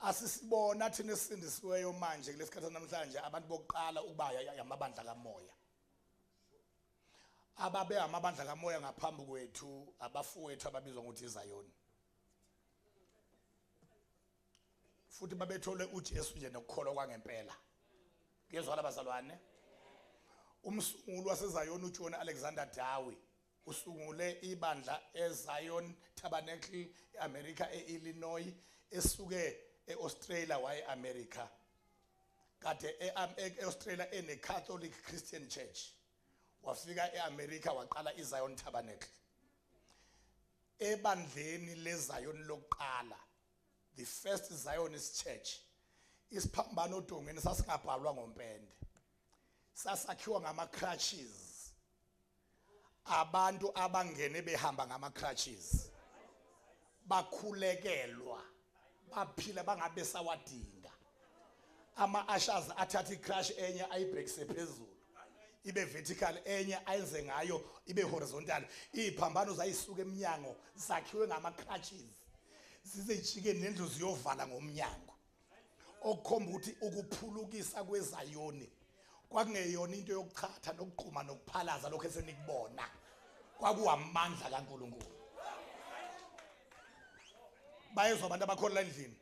asisibona thina esindisiweyo manje kulesikhathi namhlanje abantu bokuqala ukuba yamabandla kamoya ababe amabandla kamoya ngaphambi kwethu abafowethu ababizwa ngokuthi iZayoni futhi babethole uJesu nje nokukholwa kwangempela kuyezwala bazalwane umsunguli waseZayoni uJohn Alexander Dowie Usungule ibandla eZion Tabernacle eAmerica eIllinois esuke eAustralia waye America. Kade eAustralia ene Catholic Christian Church. Wafika eAmerica waqala iZion Tabernacle. Ebandleni leZion lokuqala the first Zionist church isiphambano odongeni sasingabhalwa ngompende sasakhiwa ngama crutches abantu abangene behamba ngama crutches bakhulekelwa baphila bangabe sawadinga ama ushers athatha icrush enye ayibhekise phezulu ibe vertical enye ayenze ngayo ibe horizontal iziphambano zayisuka eminyango zakhiwe ngama crutches zizejike nendlu ziyovala ngomnyango okukhomba ukuthi ukuphulukisa kwezayoni kwakungeyona into yokuchatha nokuqhuma nokuphalaza lokho esenikubona kwakuwamandla kaNkuluNkulu bayezwa abantu abakhona la endlini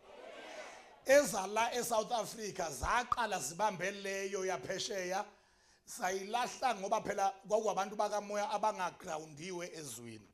ezala eSouth Africa zaqala zibambe leyo yaphesheya sayilahla ngoba phela kwakuwabantu bakamoya abangagroundiwe ezwini